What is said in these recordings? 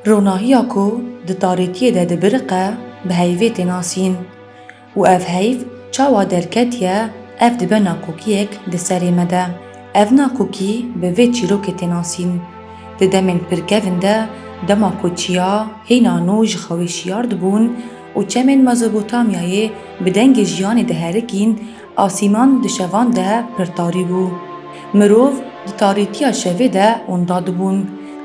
Ronahiya ku di tarêtiyê de dibiriqe bi heyvê tê nasîn û ev heyv çawa derketiye ev dibe naqûkiyek di serê me de. Ev naqûkî bi vê çîrokê tê nasîn. Di demên pirkevin de dema ku çiya hêna nû ji xewê şiyar dibûn û çemên Mezopotamyayê bi dengê jiyanê diherikîn Asîman di şevan de pir tarî bû. Mirov di tarîtiya şevê de onda dibûn.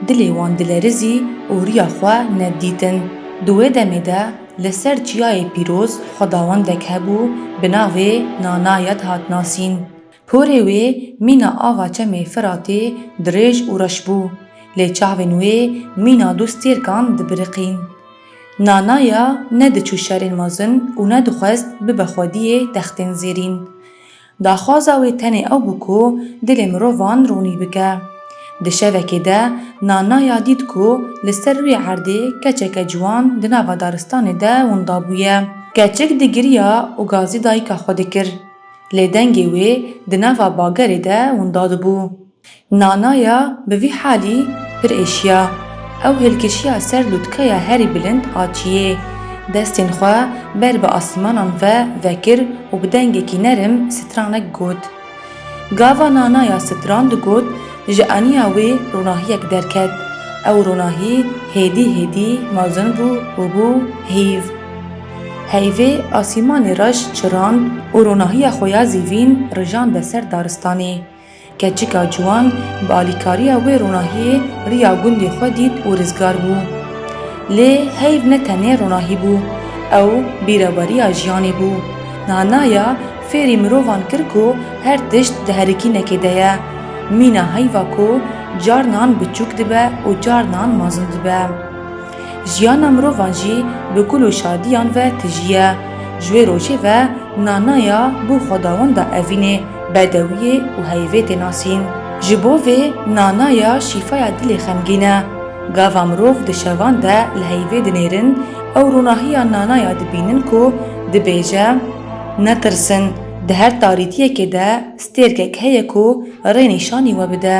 Dilê wan dilerizî û riya xwe nedidîtin. Di wê demê de li ser Çiyayê Pîroz xwedawendek hebû bi navê Nanayet hat nasîn. Porê wê mîna ava çemê Firatê dirêj û reş bû. Lê çavên wê mîna du stêrkan dibiriqîn. Nana ya ne diçû şerên mezin û ne dixwest bibe xwediyê textên zêrîn. Daxwaza wê tenê ew bû ku dilê mirovan ronî bike. Di şevekê de Nana ya dît ku li ser rûyê erdê keçeke ciwan di nava daristanê de winda bûye. Keçik digiriya û gazî dayika xwe dikir. Lê dengê wê di nava bagerê de winda dibû. Nana ya bi vî halî pir êşiya. Ew hilkişiya ser lûtkeya herî bilind a çiyê. Destên xwe ber bi asîmanan ve vekir û bi dengekî nerim stranek got. Gava Nana ya stran digot, ji aniya wê ronahiyek derket. Ew ronahî hêdî hêdî mezin bû û bû heyv. Heyvê asîmanê reş çirand û ronahiya xwe ya zîvîn rijand be ser daristanê. Keçika ciwan bi alîkariya wê ronahiyê riya gundê xwe dît û rizgar bû. Lê heyv ne tenê ronahî bû, ew bîreveriya jiyanê bû. Niha naya fêrî mirovan kir ku her tişt di herikînekê de ye. Mîna heyva ku carnan biçûk dibe û carnan mezin dibe. Jiyana mirovan jî bi gul û şadiyan ve tijî ye. Ji wê rojê ve Nanaya bo xwedawenda evînê, bedewiyê û heyvê tê nasîn. Ji bo vê Nanaya şîfaya dilê xemgîn e. Gava mirov di şevan de li heyvê dinêrin ew ronahiya Nanaya dibînin ku dibêje, Netirsin, di her tarîtiyekê de stêrkek heye ku rê nîşanî we bide.